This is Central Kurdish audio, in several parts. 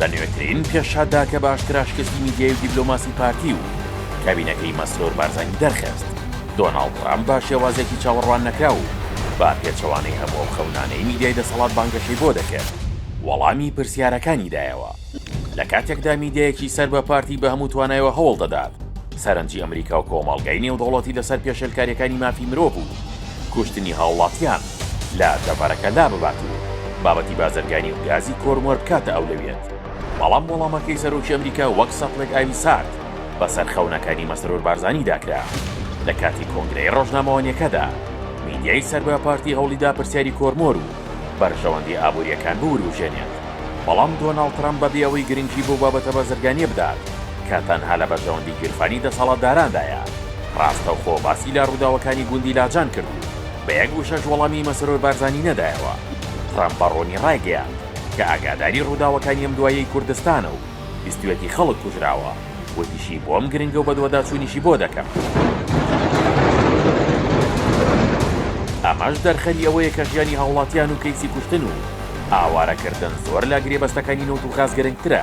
لە نوێترین پێشهاتدا کە بە ئاشکرا شکستی میدیای و دیبلۆماسی پارتی و کابینەکەی مەسرور بارزانی دەرخست، دۆناڵد ترامپ بە شێوازێکی چاوەڕوان نەکراو و بە پێچەوانەی هەموو ئەو خەونانەی میدیای دەسەڵات بانگەشەی بۆ دەکرد، وەڵامی پرسیارەکانی دایەوە. لە کاتێکدا میدیایەکی سەر بە پارتی بە هەموو توانایەوە هەوڵ دەدات سەرنجی ئەمریکا و کۆمەڵگای نێودەوڵەتی لەسەر پێشێلکارییەکانی مافی مرۆڤ و کوشتنی هاوڵاتیان، لە دەڤەرەکە لاببات و بابەتی بازرگانی و گازی کۆرمۆر بکاتە ئەولەویەت، بەڵام وەڵامەکەی سەرۆکی ئەمریکا وەک سەتڵێک ئاوی سارد بەسەر خەونەکانی مەسرور بارزانیدا کرا. لە کاتی کۆنگرەی ڕۆژنامەوانیەکەدا میدیای سەر بە پارتی هەوڵیدا پرسیاری کۆرمۆر و بەرژەوەندی ئابوریەکان بوروژێنێت، بەڵام دۆناڵد ترەمپ بەبێ ئەوەی گرنگی بەو بابەتە بازرگانیە بدات کە تەنها لە بەرژەوەندی گیرفانی دەسەڵاتداراندایە، ڕاستەوخۆ باسی لە ڕوداوەکانی گوندی لاجان کرد و، بە یەک وشەش وەڵامی مەسرور بارزانی نەدایەوە. ترەمپ بە ڕوونی ڕایگەیاند کە ئاگاداری ڕووداوەکانی ئەم دواییەی کوردستانە و بیستویەتی خەڵک کوژراوە، وتیشی بۆم گرنگە و بەدواداچوونیشی بۆ دەکەم. ئەمەش دەرخەری ئەوەیە کە ژیانی هاوڵاتیان و کەیسی کوشتن و ئاوارەکردن زۆر لە گرێبەستەکانی نەوت و غاز گرنگترە.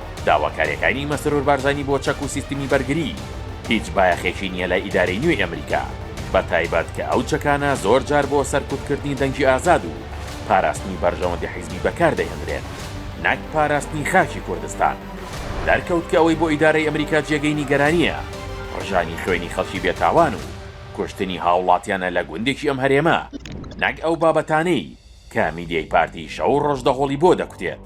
داواکاریەکانی مەسرور بارزانی بۆ چەک و سیستمی بەرگری هیچ بایەخێکی نیە لای ئیدارەی نوێی ئەمریکا بە تایبەت کە ئەو چەکانە زۆر جار بۆ سەرکوت کردنی دەنگی ئازاد و پاراستنی بەرژەوەندی حیزبی بەکار دەهێندرێن نەک پاراستنی خاکی کوردستان. دەرکەوت کە ئەوەی بۆ ئیدارەی ئەمریکا جێگەی نیگەرانیە ڕژانی خوێنی خەڵکی بێ تاوان و کوشتنی هاوڵاتیانە لە گوندێکی ئەم هەرێمە نەک ئەو بابەتانەی کە میدیای پارتی شەو و ڕۆژ دەهۆڵی بۆ دەکوتێت.